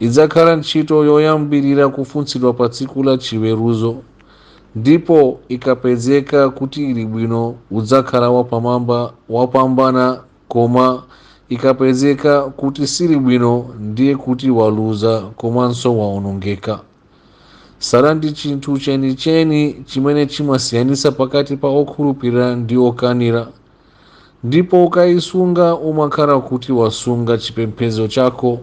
idzakhala ntchito yoyambirira kufunsidwa pa tsiku la chiweruzo ndipo ikapezeka kuti ili bwino udzakhala wapambana koma ikapezeka kuti sili bwino ndiye kuti waluza komanso waonongeka sala ndi chinthu chenicheni chimene chimasiyanitsa pakati pa okhulupirira ndi okanira ndipo ukaisunga umakhala kuti wasunga chipembedzo chako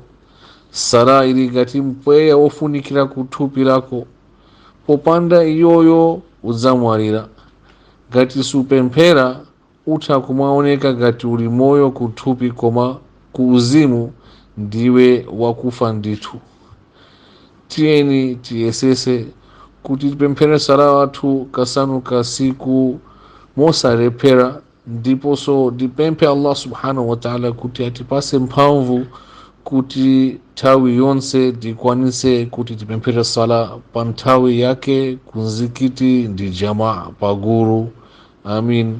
sala ili ngati mpweya wofunikira ku thupi lako popanda iyoyo udzamwalira ngati supemphera utha kumaoneka ngati uli moyo ku thupi koma ku uzimu ndiwe wakufa ndithu tiyeni tiyesese kuti tipemphere sala wathu kasanu kasiku mosalephera ndiponso tipemphe allah subhanahu wataala kuti atipase mphamvu kuti nthawi yonse tikwanise kuti tipemphere sala pa nthawi yake ku mzikiti ndi jamaa pagulu amin